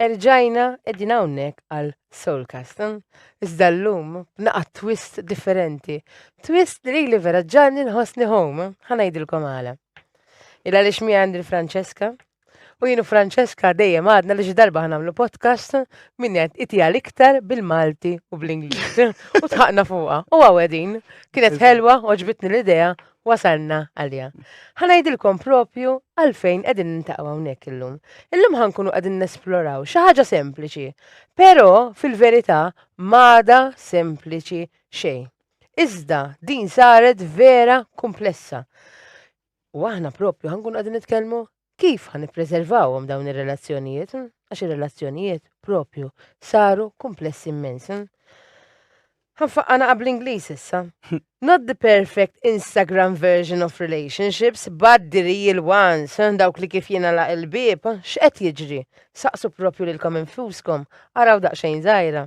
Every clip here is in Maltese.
Erġajna qegħdin hawnhekk għal Soulcast. Iżda llum b'naqa' twist differenti. Twist li lili vera ġanni nħossni home, ħa ngħidilkom għala. Il għaliex mi għandi Franceska. U jienu Franceska dejjem għadna li xi darba ħanamlu podcast min qed iti għal iktar bil-Malti u bl-Ingliż. U tħaqna fuqha. U għawedin. Kienet ħelwa, oġbitni l-idea wasalna għalija. Ħanajdilkom propju għalfejn qegħdin nintaqgħu hawnhekk illum. Illum ħankunu qegħdin nesploraw xi ħaġa sempliċi, però fil-verità m'għada sempliċi xejn. Iżda din saret vera komplessa. U aħna propju ħankunu qegħdin nitkellmu Kif ħa nippreservawhom dawn ir-relazzjonijiet? Għax ir-relazzjonijiet proprju saru kumplessi immens. Ħa nfaqqa naqa' bl-Ingliż issa. Not the perfect Instagram version of relationships, but the real ones, dawk li kif jingħalaq il-bieb, x'qed jiġri? Saqsu proprju lilkom infuskom, araw daqsxejn żgħira.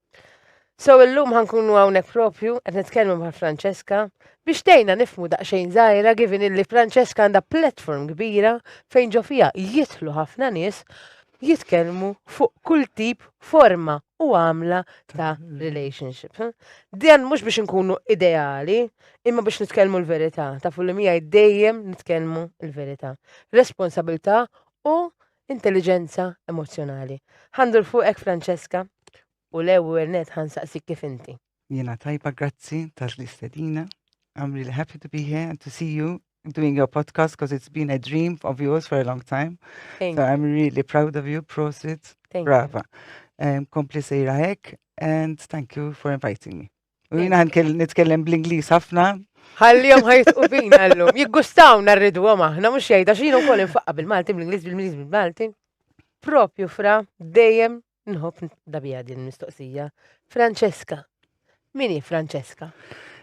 So illum ħankunu hawnhekk propju qed nitkellmu ma' Francesca biex tgħinna nifmu daqsxejn żgħira given illi Francesca għandha platform kbira fejn ġo fiha jidħlu ħafna nies jitkellmu fuq kull tip forma u għamla ta' relationship. Dan mhux biex nkunu ideali, imma biex nitkellmu l-verità, ta' full miegħi dejjem nitkellmu l-verità. Responsabilità u Intelliġenza emozzjonali. Ħa ndur fuqek Francesca u l-ewwel nett ħa nsaqsik kif inti. Jiena tajba grazzi tal-istedina. I'm really happy to be here and to see you doing your podcast because it's been a dream of yours for a long time. Thank so you. I'm really proud of you, prosit. Thank Brava. You. Um, kompli sejra hekk and thank you for inviting me. Jina għan nitkellem bl-Inglis ħafna. Għallijom ħajtqu bina għallum. Jiggustaw narridu għom aħna, mux jgħida xinu kol infaqqa bil-Malti, bil-Inglis, bil-Inglis, bil-Malti. Propju fra, dejjem nħob dabija din mistoqsija. Francesca. Mini Francesca?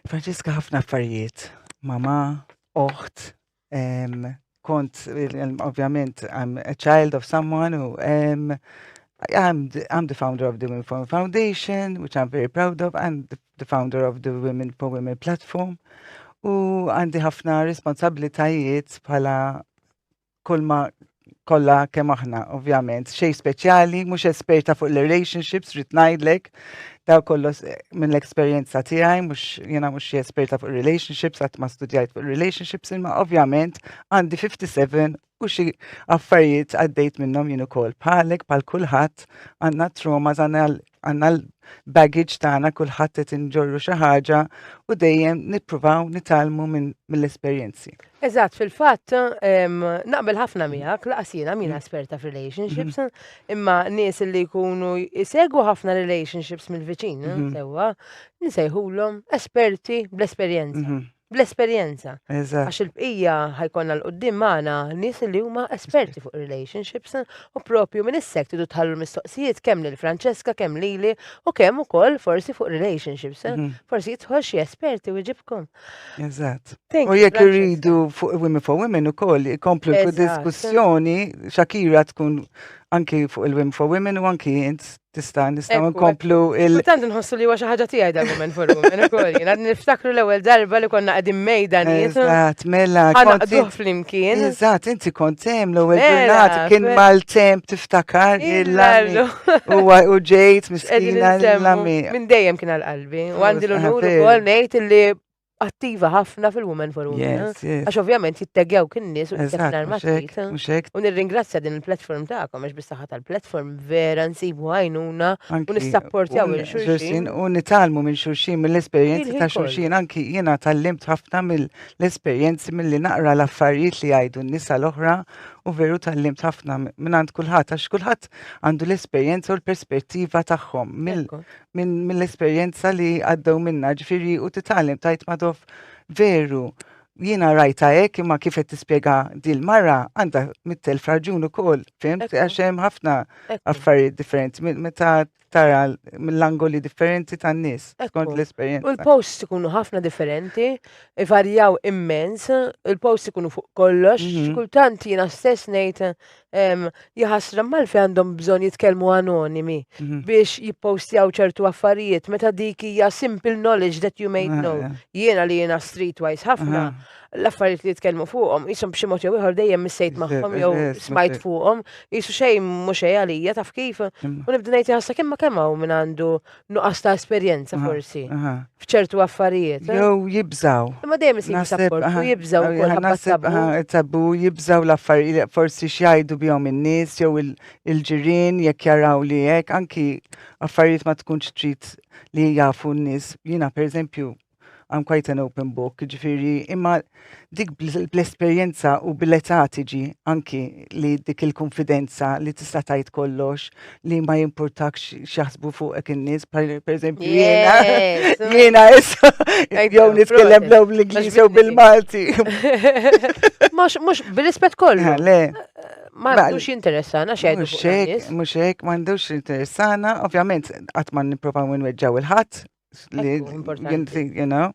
Francesca ħafna affarijiet. Mama, oħt, Um, kont, ovvjament, I'm a child of someone who um, I'm the, I'm the founder of the Women for Women Foundation, which I'm very proud of, and the, the founder of the Women for Women platform. U għandi ħafna responsabilitajiet bħala kolma kollha kemm aħna, ovvjament. Xej speċjali, mhux esperta fuq l-relationships, rrid ngħidlek, daw kollos eh, minn l-esperjenza tiegħi, mhux jiena mhux xi esperta fuq relationships, qatt ma studjajt fuq relationships, imma ovvjament għandi 57 u xi affarijiet għaddejt minnhom jien ukoll. Bħalek bħal kulħadd għandna traumas għandna għandna l-baggage tagħna kulħadd qed inġorru xi ħaġa u dejjem nippruvaw nitalmu mill-esperjenzi. Eżatt, fil-fatt naqbel ħafna miegħek laqas jiena mina esperta f'relationships, mhm. imma nies li jkunu jsegwu ħafna relationships mill-viċin, mhm. sewwa, nsejħulhom esperti bl-esperjenza. Mhm. bl-esperjenza. Eżatt. Għax il-bqija ħajkonna l-qoddim magħna nies li huma esperti fuq relationships u propju minn issek tidu tħallu l-mistoqsijiet kemm lil Francesca, kemm lili u kemm ukoll forsi fuq relationships. eh? Mhm. Forsi jidħol xi esperti u jġibkom. Eżatt. Thank U you, jekk Francesca. irridu fuq Women for Women ukoll ikomplu Eżatt. l-diskussjoni Shakira tkun anki fuq il-Women for Women u anki int Tista' nistgħu nkomplu il. Tant nħossu li huwa xi ħaġa tiegħi dan moment for women ukoll. Jien għad niftakru l-ewwel darba li konna qegħdin mejda nies. Eżatt, mela. Ħanaqduh flimkien. Eżatt, inti kont hemm l-ewwel ġurnata kien mal-temp tiftakar il-lallu. Huwa u ġejt miskina l-lami. Minn dejjem kien għal-qalbi. U għandi l-unur ukoll ngħid li attiva ħafna fil-Women for Women. Eh? Għax ovvjament jittegjaw kien nies u jittegħu martit. U nirringrazzja din il-platform tagħkom għax bisaħħa tal-platform vera nsibu għajnuna u nissapportjaw il xulxin. U nitalmu minn xulxin mill-esperjenzi ta' xulxin anki jiena tal-limt ħafna mill-esperjenzi mill-li naqra l-affarijiet li jgħidu n-nisa l-oħra u veru tal-limt ħafna minn għand kulħadd għax kulħadd għandu l-esperjenza u l-perspettiva tagħhom mill-esperjenza li għaddew minna ġifiri u titgħallem tajt madof veru jiena rajta hekk imma kif qed tispjega dil mara għandha mittel fraġun ukoll, fimt? Għax hemm ħafna affarijiet differenti meta tara mill-angoli differenti tan-nies skont l-esperjenza. U l-posts ikunu ħafna differenti, ivarjaw immens, il-posts ikunu fuq kollox, mhm. kultant jiena stess ngħid Jaħasra mal-fi għandhom bżon jitkellmu anonimi mhm. biex jippostjaw ċertu affarijiet meta dik hija simple knowledge that you may ah, know. Jiena li jiena streetwise ħafna l-affarijiet li jitkellmu fuqhom jisom b'xi mod jew ieħor dejjem missejt magħhom jew smajt fuqhom jisu xejn mhux xejn għalija taf kif u nibda ngħid ħassa kemm ma kemm hawn min għandu nuqqas ta' esperjenza forsi. F'ċertu affarijiet. Eh? Jew jibżaw. Imma dejjem isib sapport u jibżaw ukoll tabu jibżaw l-affarijiet forsi x'jgħidu bihom in-nies jew il-ġirien jekk jaraw li hekk anki affarijiet ma tkunx trid li jafu n-nies. Jiena pereżempju I'm quite an open book, ġifiri, imma dik bl-esperienza u bil-età tiġi anki li dik il-konfidenza li tista' tajt kollox li ma jimpurtakx xaħsbu fuq ek in-nies, per eżempju, jiena, jiena issa, jew nitkellem lew bl-Ingliż jew bil-Malti. Mux bil-rispet kollu. Ah, le. Ma għandux interessana xejn. Mux hekk, mux hekk, ma għandux interessana, ovvjament, għatman niprofaw minn weġġaw il-ħadd, li you know,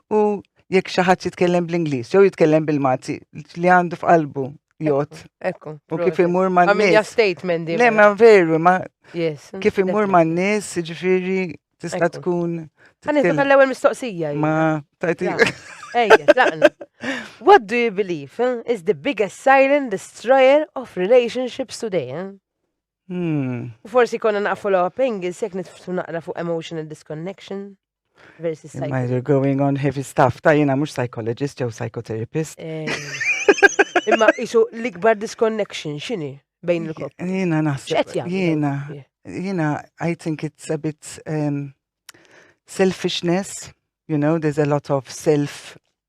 u jekk xi ħadd jitkellem bl-Ingliż jew jitkellem bil-Malti li għandu f'qalbu jot. Ekku. U kif imur ma' n-nis. Għamilja statement di. Le, ma' veru, ma' kif imur ma' n-nis, ġifiri, tista' tkun. Għani, ta' l-ewel mistoqsija. Ma, tajti. Ejja, laqna. What do you believe eh, is the biggest silent destroyer of relationships today? Eh? U forsi konna naqfu l Engels jekk nitftu naqra fuq emotional disconnection versus psychology. You're going on heavy stuff, ta' jina mux psychologist jew psychotherapist. Eh. Imma isu l-ikbar disconnection xini bejn il-kop. Jina naħseb. Jina, jina, I think it's a bit um, selfishness, you know, there's a lot of self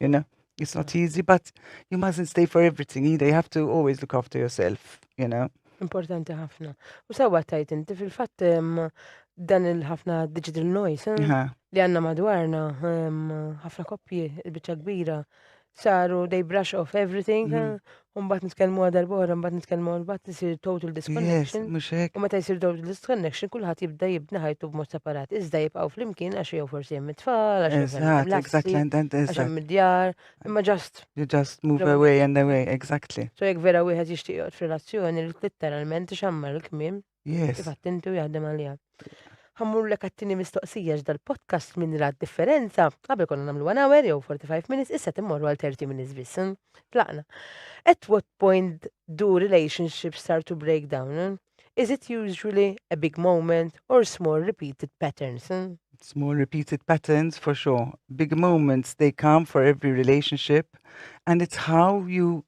you know. It's not easy, but you mustn't stay for everything either. You have to always look after yourself, you know. Importanti ħafna. U sawa tajt inti fil-fatt dan il-ħafna digital noise eh, li għanna madwarna ħafna koppji il-bicċa kbira saru they brush off everything mhm. eh, Umbat nitkellmu għal darba oħra, mbagħad nitkellmu mbagħad nisir total disconnection. Mhux hekk. U meta jsir total disconnection kulħadd jibda jibni ħajtu b'mod separat. Iżda jibqgħu flimkien għax jew forsi hemm it-tfal, għax għax hemm id-djar, imma just. You just move away and away, exactly. So jekk vera wieħed jixtieq joqgħod f'relazzjoni li tittaralment ixammar il-kmiem. Yes. Kif attinti u jaħdem għalija. Ħammur l kattini mistoqsija ġdal podcast minn rad differenza. Għabel konna namlu 1 hour jew 45 minutes, issa timmorru għal 30 minutes biss. Hm? Tlaqna. At what point do relationships start to break down? Hm? Is it usually a big moment or small repeated patterns? Hm? small repeated patterns for sure. Big moments, they come for every relationship. And it's how you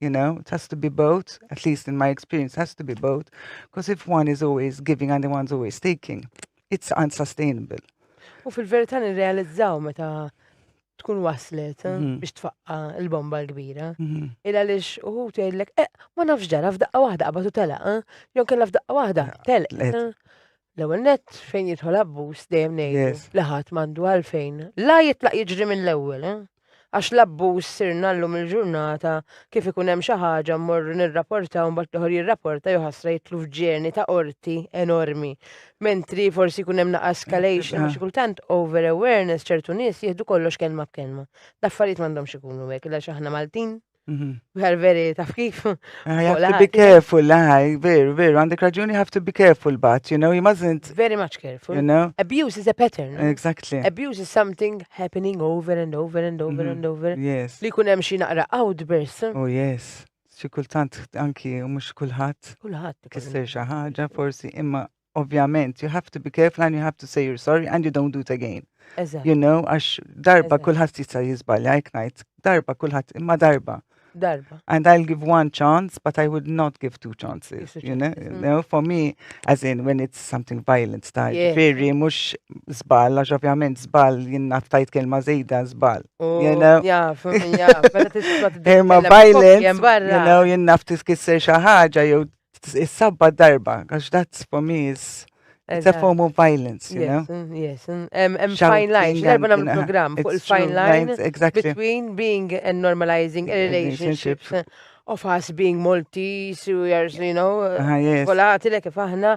you know, it has to be both, at least in my experience, has to be both, because if one is always giving and the one's always taking, it's unsustainable. U fil-verità nirrealizzaw meta tkun waslet eh, mhm. biex tfaqqa l-bomba l-kbira. Mhm. Il għaliex uħu tgħidlek, eh, ma nafx ġara f'daqqa waħda qabad u telaq, eh? jew kellha f'daqqa waħda telq. L-ewwel nett fejn jidħol abbuż dejjem ngħidu Yes. li ħadd m'għandu għalfejn la jitlaq jiġri mill-ewwel, eh? Għax l-abbuż sirna llum il-ġurnata kif ikun hemm xi ħaġa mmorru nirraportaw mbagħad l-oħor jirraporta jew ħasra jitlu f'ġeni ta' qorti enormi. Mentri forsi jkun hemm naqa' escalation għax kultant over awareness ċertu nies jieħdu kollox kelma b'kelma. L-affarijiet m'għandhomx ikunu hekk għax aħna Maltin Mhm. Vera, veri, taf kif? I have to be careful, I, veru, veru, għandek raġuni, have to be careful, but, you know, he mustn't. Very much careful. You know? Abuse is a pattern. Exactly. Abuse is something happening over and over and over mm -hmm. and over. Yes. Li kunem xi naqra outburst. Oh, yes. Xi kultant anki mhux kulħadd. Kulħadd. Kisser xi ħaġa forsi imma ovvjament, you have to be careful and you have to say you're sorry and you don't do it again. You know, għax darba kullħat jista jizbalja, jek najt, darba kullħat, imma darba. Darba. And I'll give one chance, but I would not give two chances. You know, you mm. know for me, as in when it's something violent style, yeah. very mux zbal, għax ovvjament zbal jinna ftajt kelma zejda zbal. Oh, you know? Yeah, for me, yeah. Imma violent, you know, jinna ftiskisser xaħġa, jew Is-sabba darba, għax that's for me is it's a form of violence, you know? Yes, mm, mm. and fine line, darba nam program fuq il-fine line between being and normalizing a relationship of us being Maltese, we are, you know, kolati le kif aħna,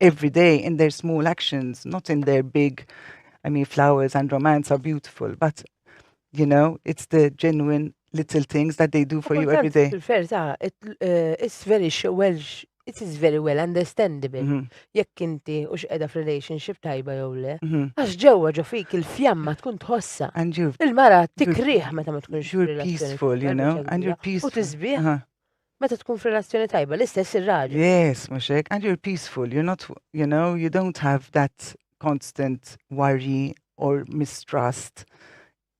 every day in their small actions, not in their big, I mean, flowers and romance are beautiful, but, you know, it's the genuine little things that they do for you every day. Verta, it, uh, it's very well, it is very well understandable. Mhm. Jekk inti u x'qeda f'relationship tajba jew le, Mhm. għax ġewwa ġo fik il-fjamma tkun tħossa. And you're, Il-mara tikriħ meta ma tkunx you're f'relazzjoni peaceful, you know, and you're U peaceful. tisbieħ. Uh-huh. Meta tkun f'relazzjoni tajba, l-istess ir-raġel. Yes, mhux hekk. And you're peaceful, you're not, you know, you don't have that constant worry or mistrust.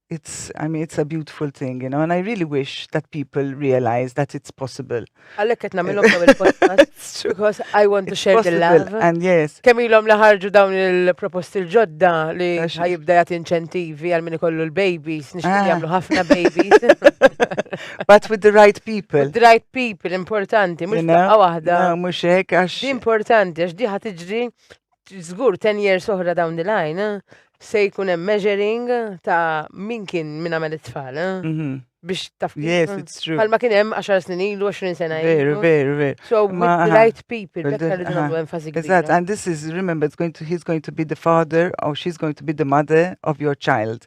It's, I mean, it's a beautiful thing, you know, and I really wish that people realize that it's possible. Għalek qed nagħmilhom dawn il-podcast because I want to share the love. And yes. Kemm ilhom li ħarġu dawn il-proposti l-ġodda li ħajibda jagħti inċentivi għal min ikollu l-babies, nixtieq ah. jagħmlu ħafna babies. But with the right people. With the right people, importanti, mux taqqa wahda. Mux hekk, għax. Importanti, għax diħa tiġri, zgur 10 years oħra down the line, eh, se jkun hemm measuring ta' min kien min għamel it-tfal. Eh, mhm. biex taf. Yes, eh, it's true. Palma kien hemm 10 snin ilu, 20 sena ilu. Veru, veru, veru. So, with the right people, bekka li nagħmlu enfasi kbira. Eżatt, and this is, remember, it's going to, he's going to be the father or she's going to be the mother of your child.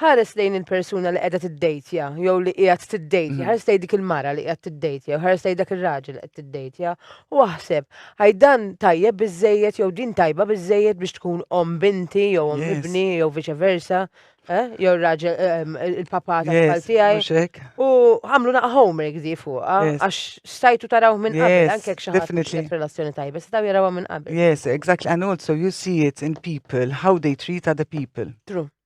Ħares lejn il-persuna li qiegħda tiddejtja jew li qiegħed tiddejtja, mm. ħares lejn dik il-mara li qiegħed tiddejtja jew ħares lejn dak ir-raġel li qed tiddejtja u aħseb għaj dan tajjeb biżejjed jew din tajba biżejjed biex tkun om binti jew om ibni jew viċe versa. Eh? jew raġel ehm, il-papa ta' tfal tiegħi. U għamlu naqa' homework di fuq, ah, għax stajtu taraw minn qabel, anke jekk xi ħadd relazzjoni tajba, staw jarawha minn qabel. Yes, exactly. And also you see it in people, how they treat other people. True.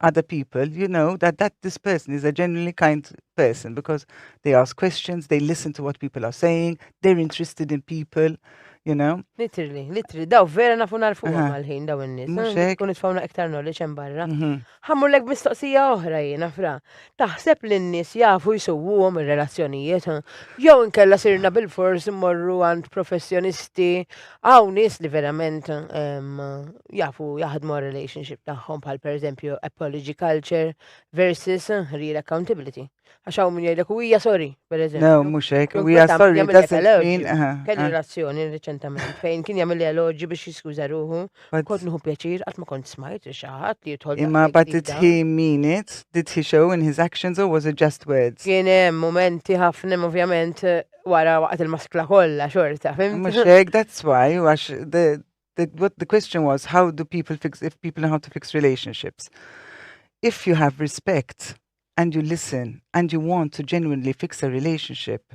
other people, you know that that this person is a genuinely kind person because they ask questions, they listen to what people are saying, they're interested in people, you know. Literally, literally, daw vera nafu narfu għal-ħin daw n-nis. Kun itfawna iktar knowledge hemm barra. Mhm. Ħammur lek mistoqsija oħra jiena fra. Taħseb li n-nies jafu jsuwuhom ir-relazzjonijiet? Jew inkella sirna bilfors immorru għand professjonisti, hawn nies li verament jafu jaħdmu għar-relationship tagħhom bħal pereżempju apology culture versus real accountability. Għax hawn min jgħidlek u hija sorry, pereżempju. No, mhux hekk, u hija sorry doesn't mean. Kelli relazzjoni riċentament fejn kien jagħmel eloġi biex jiskuża ruħu But Kont nieħu pjaċir qatt ma kont smajt li xi ħadd li jidħol imma daqshekk but did ġdida. he mean it? Did he show in his actions or was it just words? Kien hemm mumenti ħafna imma ovvjament eh, wara waqgħet il-maskla kollha xorta, fimt? Mhux hekk, that's why, u għax the, the, what the question was, how do people fix, if people know how to fix relationships. If you have respect and you listen and you want to genuinely fix a relationship,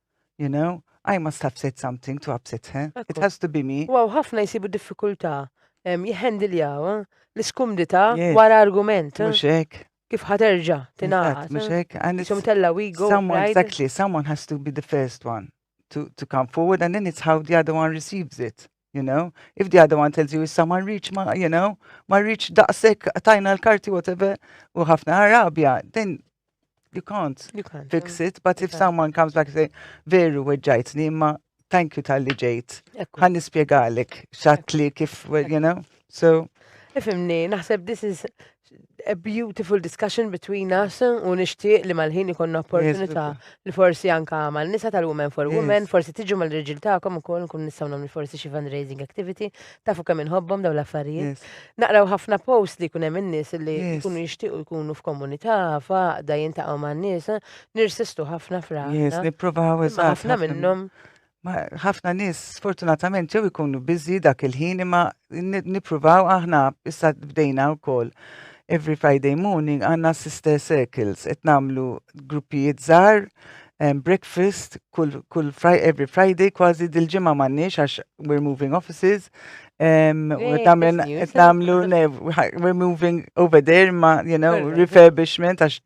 You know, I must have said something to upset her. It has to be me. Wow, ħafna jisibu diffikultà jħendiljaw eh, l-iskumdità wara argument. Eh. Mhux hekk. Kif ħaterġa' tingħaqad. Mhux eh. hekk. And it's tella we go. Someone, exactly, someone has to be the first one to, to come forward and then it's how the other one receives it. You know, if the other one tells you issa ma rridx ma, you know, ma rridx daqshekk tajna l-karti whatever u ħafna ħarabja, then you can't, you can't fix it, but if someone comes back and say, veru weġġajtni, imma thank you tal-li ġejt, ħan nispjegalek xatli kif, you know, so. Ifimni, naħseb this is a beautiful discussion between us u nixtieq li mal-ħin ikonna opportunità li forsi anka mal nisa tal-women for women, forsi tiġu mal-reġil tagħkom ukoll nkun nistgħu nagħmlu forsi xi fundraising activity, tafu kemm inħobbhom dawn l-affarijiet. Naqraw ħafna post li jkun hemm in-nies li jkunu jixtiequ jkunu f'komunità, faqda jintaqgħu man-nies, nirsistu ħafna fra. Nipprovaw ħafna minnhom. Ma ħafna nies sfortunatament ġew ikunu biżi dak il-ħin imma nippruvaw aħna issa bdejna wkoll every Friday morning għandna sister circles qed nagħmlu gruppijiet żgħar um, breakfast kull kull fri, every Friday kważi dil-ġimgħa m'għandniex għax we're moving offices um, qed nagħmlu we're moving over there ma you know refurbishment għax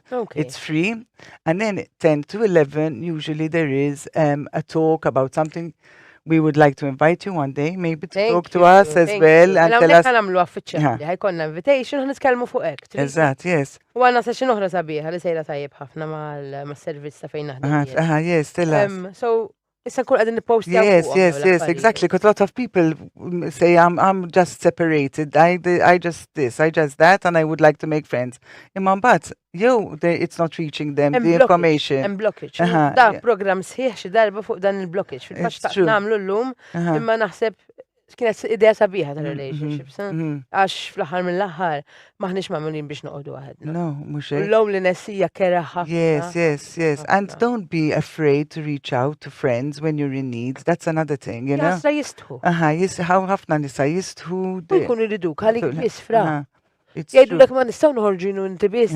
Okay. It's free. And then 10 to 11, usually there is um, a talk about something we would like to invite you one day, maybe to thank talk to us as well. And tell us. Għanamlu għaffiċċjali, ħajkonna invitation, ħanitkellmu fuq ek. Eżat, yes. U għanna sa xinoħra sabiħa li sejra tajib ħafna mal-servizz ta' fejn naħdem. Aha, yes, tell us. Um, so, Issa nkun qegħdin nippostja. Yes, yes, yes, exactly, because lot of people mm, say I'm, I'm just separated, I, I just this, I just that, and I would like to make friends. Imma mbagħad, jew it's not reaching them, the information. Hemm blockage. Da program sħiħ xi darba fuq dan il-blockage. Fil-fatt nagħmlu llum, imma naħseb kienet idea sabiħa ta' mm-hmm. relationship, sa? Mm-hmm. Għax fl-ħar mill-ħar, maħnix mamulin biex noqdu għahad. No, mux hekk. Low li nessija kera ħafna. Yes, yes, yes. And don't be afraid to reach out to friends when you're in need. That's another thing, you know? Jasa jistħu. Aha, jisħaw ħafna nisa jistħu. Jkun irridu, għalik jisfra. Jgħidu l ma nistaw nħorġinu inti biss.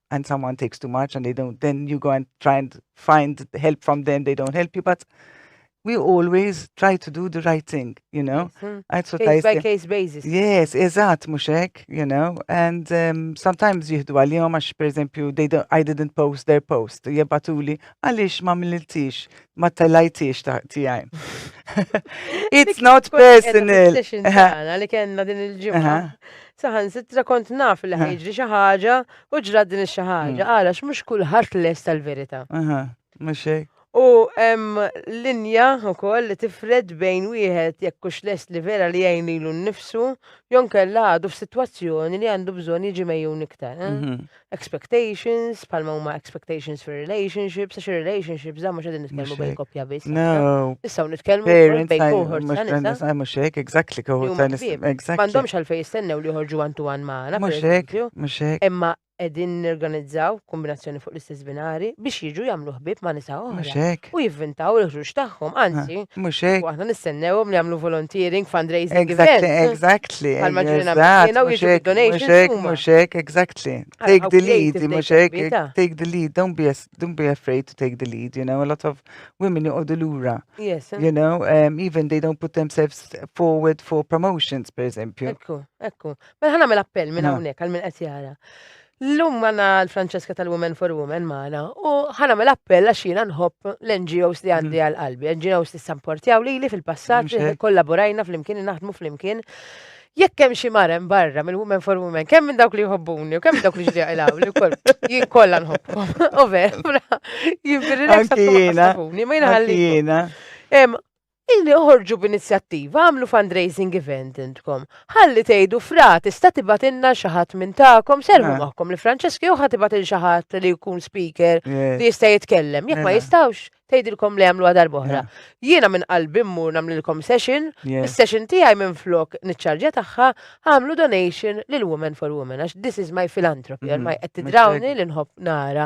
and someone takes too much and they don't, then you go and try and find help from them, they don't help you, but we always try to do the right thing, you know? Yes, mm. case by case basis. Yes, eżat, muxek, you know? And um, sometimes jihdu għal-jom għax, per esempio, they don't, I didn't post their post, jibbatuli, għalix ma milliltix, ma talajtix tijaj. It's not personal. Għalli kena din il-ġimma. Saħansitra kont naf li ħajġri xi ħaġa u ġrat din xi ħaġa, għalax mm. mhux kulħadd lest tal-verità. Mhux hekk. U hemm linja wkoll li tifred bejn wieħed jekk hux lest li vera li jgħin lilu nnifsu, jon kella għadu f'sitwazzjoni li għandu bżonn jiġi mejjun iktar. Eh? Mhm. expectations, palma huma expectations for relationships, għax relationships da mhux qegħdin nitkellmu bejn koppja biss. No. Issa nitkellmu bejn cohort ta' nisa. Mhux mhux hekk, exactly cohort ta' nisa. M'għandhomx għalfejn jistennew li joħorġu għan tu għan magħna. Mhux hekk, mhux hekk. Imma qegħdin nirganizzaw kombinazzjoni fuq l-istess binari biex jiġu jagħmlu ħbieb ma' nisa oħra. U jivvintaw il-ħruġ tagħhom, anzi. Mhux hekk. Aħna nistennewhom li jagħmlu volunteering, fundraising. Exactly, exactly. Exactly. Għal maġġorina maħjena u jiġu donations. Muxek, muxek, exactly. Take the lead, muxek, take the lead. Don't be, don't be afraid to take the lead, you know. A lot of women you the lura. Yes. You know, um, even they don't put themselves forward for promotions, per eżempju. Ekku, ekku. Mela ħana mela appell minn hawnhekk għal minn qed jara. Llum għana l-Francesca tal-Women for Women maħna u ħanamel appell għax jiena nħobb l-NGOs li għandi għal qalbi, NGOs li samportjaw li li fil-passat li kollaborajna fl-imkien naħdmu fl-imkien. Jekk hemm xi marem barra mill-Women for Women, kemm minn dawk li jħobbuni u kemm minn dawk li ġdieq ilaw li wkoll jien kollha nħobbhom. Over, jimbirri l-eksa jiena. Ma jiena ħalli. Illi oħorġu b'inizjattiva, agħmlu fundraising event intkom. Ħalli tgħidu Fra, tista' tibgħatilna xi ħadd minn tagħkom, serrħu Mela. magħkom li Francesca jew ħa tibgħat lil xi ħadd li jkun speaker Eh, li jista' jitkellem. Jekk ma Mela. jistgħux, tgħidilkom li għamluha darb'oħra. Mela. Jiena minn qalbi mmur nagħmlilkom session, yeah. is-session tiegħi minflok niċċarġja tagħha, għamlu donation lil Women for Women għax this is my philanthropy, Mhm, ormai qed mistake. tidrawni li nħobb nara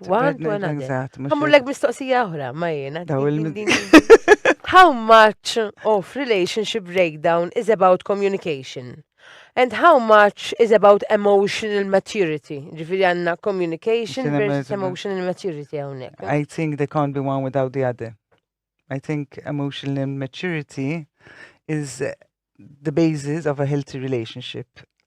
One to another. Għamurlek mistoqsija oħra, ma jena. How much of relationship breakdown is about communication? And how much is about emotional maturity? Ġifiri għanna communication versus emotional maturity għawnek. Eh? I think they can't be one without the other. I think emotional maturity is the basis of a healthy relationship,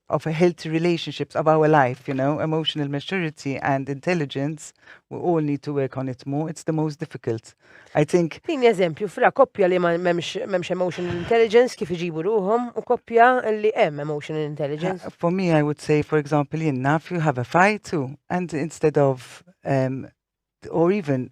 of a healthy relationships of our life, you know, emotional maturity and intelligence, we all need to work on it more, it's the most difficult. I think... Din eżempju, fra koppja li ma memx emotional intelligence kif iġibu ruħom, u koppja li em emotional intelligence. Uh, for me, I would say, for example, jenna, if you have a fight too, and instead of, um, or even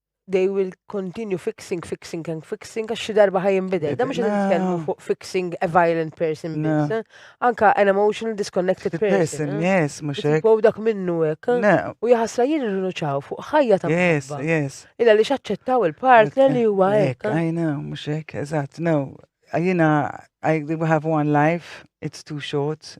they will continue fixing, fixing and fixing, għax xi darba ħaj jinbidel. Da mhux nitkellmu fuq fixing a violent person biss. Eh? Anka an emotional disconnected person. Eh? Yes, mhux hekk. Wow dak minnu hekk. Eh? U jaħasra jien irrinuċaw fuq ħajja ta' Yes, yes. Illa li xaċċettaw il-partner li huwa hekk. I know, mhux hekk, eżatt, no. Jiena I have one life, it's too short,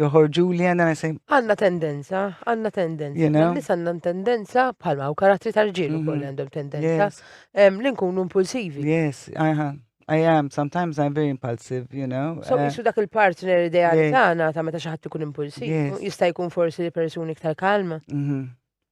joħorġu li għanna nisem. Għanna tendenza, għanna tendenza. You know? Nis għanna tendenza bħalma u karattri tal-ġilu mm-hmm. kolli għandhom tendenza. Li nkunu impulsivi. Yes, aha. I am, sometimes I'm very impulsive, you know. So, uh, jisu dak il-partner ideali tagħna ta' meta xi ħadd ikun impulsiv, jista' jkun forsi li persuni iktar kalma. Mm-hmm.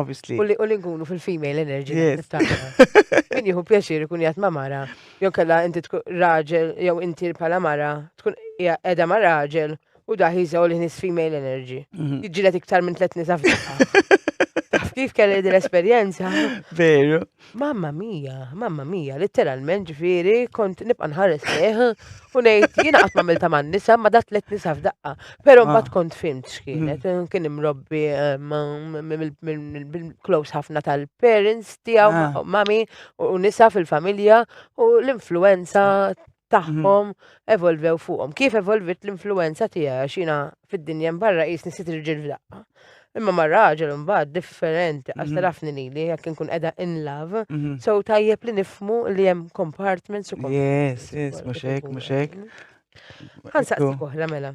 Obviously. U li u li nkunu fil-female energy. Yes. Min jieħu pjaċir ikun jgħat ma' mara, jew kella inti tkun raġel, jew inti pala mara, tkun hija qiegħda ma' raġel u daħ jiżgħu li nis female energy. Jiġġieled iktar minn tliet nisa f'daqqa. Taf kif kelli din l-esperjenza? Veru. Mamma mia, mamma mia, litteralment ġifieri kont nibqa' nħares lejh u ngħid jiena qatt m'għamilta man-nisa ma dat tliet nisa f'daqqa. Però ah. mbagħad kont fimt x'kienet, mm. eh, kien imrobbi eh, close ħafna tal-parents tiegħu ah. mami u nisa fil-familja u l-influenza tagħhom evolvew fuqhom. Kif evolvit l-influenza tiegħi għax jiena fid-dinja mbarra qisni sitt irġiel f'daqqa. Imma ma raġel imbagħad differenti għax tarafni li li jekk inkun qiegħda in love, so tajjeb li nifmu li hemm compartments u Yes, yes, mhux hekk, mhux hekk. Ħansaqsik oħra mela.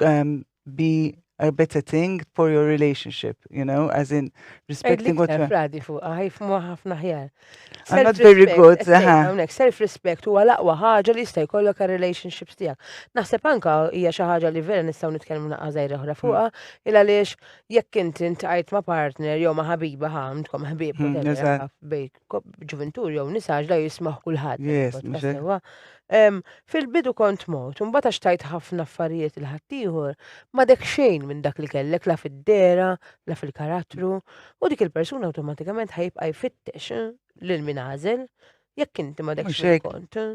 um, be arbetating for your relationship, you know, as in respecting what you're... Fradi fuq, għajf ah, muħafna ħjar. I'm not very good, Għonek, self-respect u għalaqwa ħagġa li jista' jkollok għal relationships tijak. Naħseb anka hija xi ħaġa li vera nistgħu nitkellmu naqqa' żgħira oħra fuqha, hmm. il għaliex jekk inti ntqajt ma' partner jew ma' ħabiba ħamtkom ħbib hmm, bejk ġuventur jew nisaġ la jismaħ kulħadd. Yes, Fil-bidu kont mot, un bata xtajt ħafna affarijiet il-ħattijħor, ma dek xejn minn dak li kellek la fid-dera, la fil-karattru, u dik il-persuna automatikament ħajib għajfittex eh, l-minazel, jekk inti ma dek xejn kont. Eh.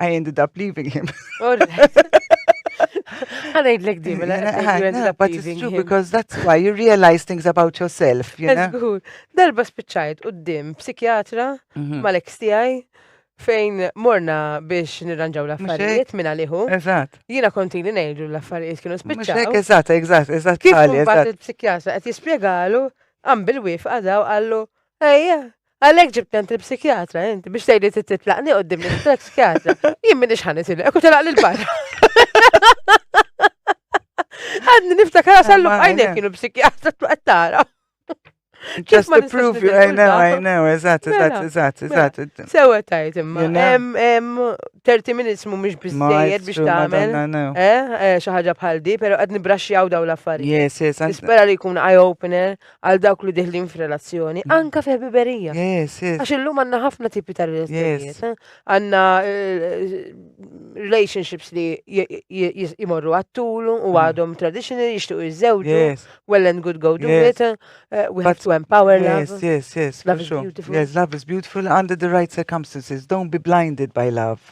I ended up leaving him. Għanajd l-ek dim, But it's true because that's why you realize things about yourself, you know? Darba spiċċajt u d-dim psikjatra mhm. mal-ek stijaj fejn morna biex nirranġaw l-affarijiet minna liħu. Eżat. Jina konti li nejdu l-affarijiet kienu spiċċaw. Mux eżat, eżat, eżat. Kif bat il-psikjatra għet jispiegalu, għam bil-wif għadaw għallu, ejja, Għalhekk ġibtni għand il-psikjatra inti biex tgħid li titlaqni qudiem l-psikjatra. Jien minn ixħan itilek u telaq lil barra. Għadni niftakar għasallu għajnek kienu psikjatra tlaqt tara. Just to prove you, I know, I know, eżatt, eżatt, mela, eżatt, mela. eżatt. Sewa tajt imma. 30 minutes mu mux bizzejed biex tamen. Eh, eh, xaħġa bħal di, pero għad nibraxxjaw daw l-affarijiet. Yes, yes. Nispera li jkun eye-opener għal dawk li diħlin f'relazzjoni, mm. anka fi ħbiberija. Yes, yes. Għax illum għanna ħafna tipi ta' relazzjonijiet. Eh? Għanna eh, relationships li jimorru għattulu u mm. għadhom traditional jishtu jizzewġu, well and good go do it, eh, we have to empower love. Yes, yes, yes. Love is beautiful. Yes, love is beautiful under the right circumstances. Don't be blinded by love.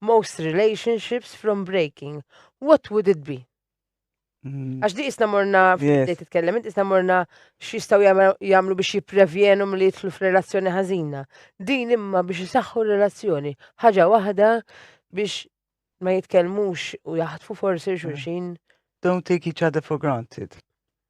most relationships from breaking, what would it be? Mm. Għax di isna morna, fil-bdej titkellem, isna morna xistaw jamlu biex jiprevjenu li jitlu f-relazzjoni ħazina. Din imma biex jisaxħu relazzjoni. ħaġa wahda biex ma jitkellmux u jaħtfu forsi mm. xurxin. Don't take each other for granted.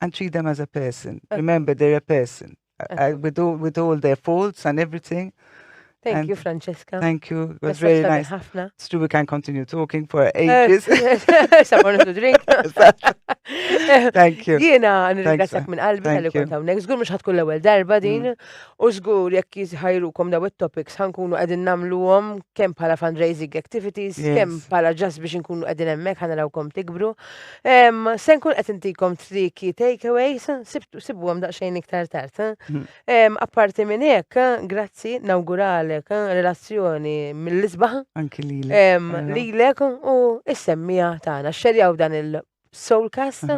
and treat them as a person. Uh, Remember, they're a person. Uh, with, all, with all their faults and everything. Thank and you, Francesca. Thank you. It was really nice. Hafna. It's true, we can continue talking for ages. Someone to drink. Thank you. Jiena nirringrazzjak minn qalbi tal-li kont hawnhekk. Żgur mhux ħatkun l-ewwel darba mm. din u żgur jekk jiżħajrukom daw it-topics ħankunu qegħdin nagħmluhom kemm bħala fundraising activities, kemm bħala ġas biex inkunu qegħdin hemmhekk ħanalawkom tikbru. Em, se nkun qed intikom triki takeaways, sib- sibuhom daqsxejn iktar tard. eh? Em, apparti minn hekk, eh, grazzi nawguralek eh, relazzjoni mill-isbaħ Anki li l em, lilek u s-semmija tagħna. Xxerjaw dan il-soulcast,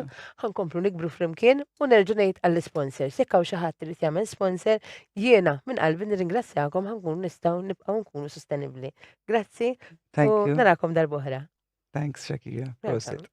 ħankomplu nikbru flimkien u nerġa' ngħid għall-sponsors. Jekk hawn xi ħadd irid jagħmel sponsor, jiena minn qalbi nirringrazzjakom ħankun nistgħu nibqgħu nkunu sostenibbli. Grazzi Thank u you. narakom darb'oħra. Thanks, Shakira. Prosit.